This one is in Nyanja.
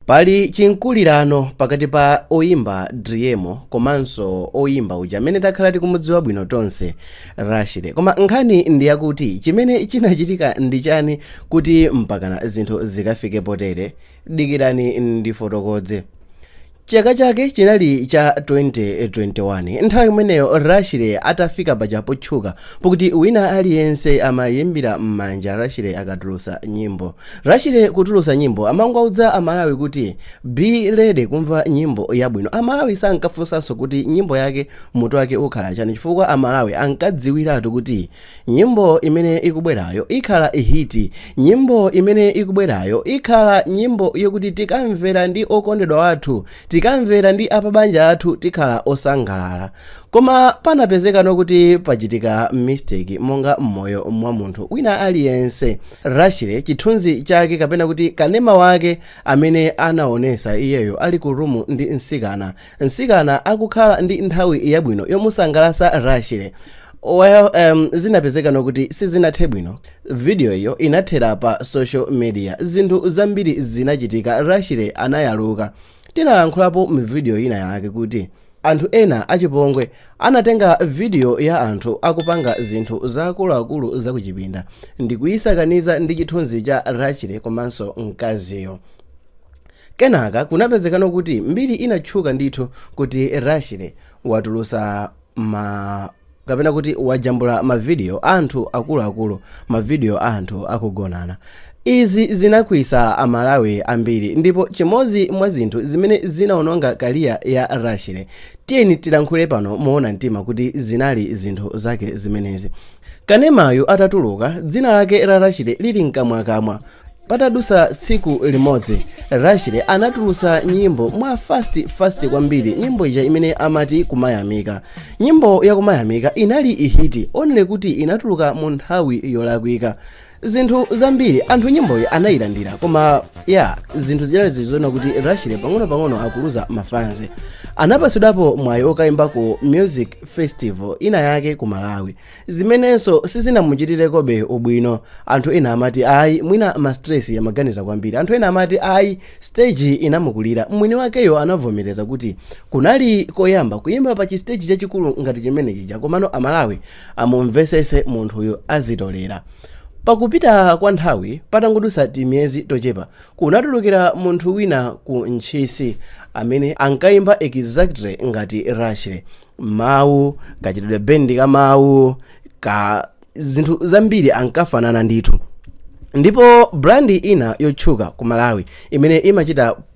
Pali chimkulirano pakati pa oyimba Driemo komanso oyimba uja amene takhala tikumudziwa bwino tonse Rashley. Koma nkhani ndi yakuti chimene chinachitika ndi chani kuti mpakana zinthu zikafike potere? Dikirani ndifotokoze. Chaka chake chinali cha 2021. Nthawi imeneyo Rashly atafika paja potchuka pokuti wina aliyense amayimbira mmanja Rashly akatulusa nyimbo. Rashley kutulusa nyimbo amangowauza amalawi kuti be ready kumva nyimbo yabwino amalawi sankafunsanso kuti nyimbo yake mutu wake ukhala chani chifukwa amalawi ankadziwiratu kuti nyimbo imene ikubwerayo ikhala hit nyimbo imene ikubwerayo ikhala nyimbo yokuti tikamvera ndi okondedwa wathu Tikamvera ndi apabanja athu tikhala osangalala. Koma panapezekano kuti pachitika mistake monga m'moyo mwa munthu wina aliyense. Rashley chithunzi cake kapena kuti kanema wake amene anaonesa iyeyo ali ku room ndi mtsikana. Mtsikana akukhala ndi nthawi yabwino yomusangalasa Rashley. Well, um, zinapezekano kuti sizinathe bwino. Video iyo inathera pa social media zinthu zambiri zinachitika Rashley anayaluka. Tinalankhulapo mu video ina yake kuti anthu ena achipongwe anatenga video ya anthu akupanga zinthu zaakuluakulu zakuchipinda ndikuyisakaniza ndi chithunzi cha Rashley komanso mkaziyo. Kenaka kunapezekano kuti mbiri inatchuka ndithu kuti Rashley watulusa kapena kuti wajambula mavidiyo a anthu akuluakulu mavidiyo a anthu akugonana izi zinakwiyitsa amalawi ambiri ndipo chimodzi mwa zinthu zimene zinaononga career ya rashley tiyeni tilankhule pano moona mtima kuti zinali zinthu zake zimenezi kanemayu atatuluka dzina lake la rashley lili mkamwakamwa patadutsa tsiku limodzi rashley anatulutsa nyimbo mwa fast fast kwambiri nyimbo ija imene amati kumayamika nyimbo ya kumayamika inali ihiti only kuti inatuluka mu nthawi yolakwika zinthu zambiri anthu nyimboyi anayilandira koma ya zinthu zinali zizoona kuti rashley pang'onopang'ono akuluza mafanzi anapatsidwapo mwayi okayimba ku music festival ina yake ku malawi zimenenso sizinamuchitirekobe ubwino anthu ena amati ayi mwina ma stress amaganiza kwambiri anthu ena amati ayi stage inamukulira mwini wakeyo anavomereza kuti kunali koyamba kuyimba pa chistage chachikulu ngati chimene chija komano amalawi amumvesese munthuyo azitolera pakupita kwa nthawi patangodusa timiyezi tochepa kunatulukira munthu wina ku ntchisi amene ankayimba exactly ngati rashley mawu, kachitidwe band ka mawu, ka zinthu zambiri ankafanana ndithu. Ndipo brand ina yotchuka ku Malawi imene imachita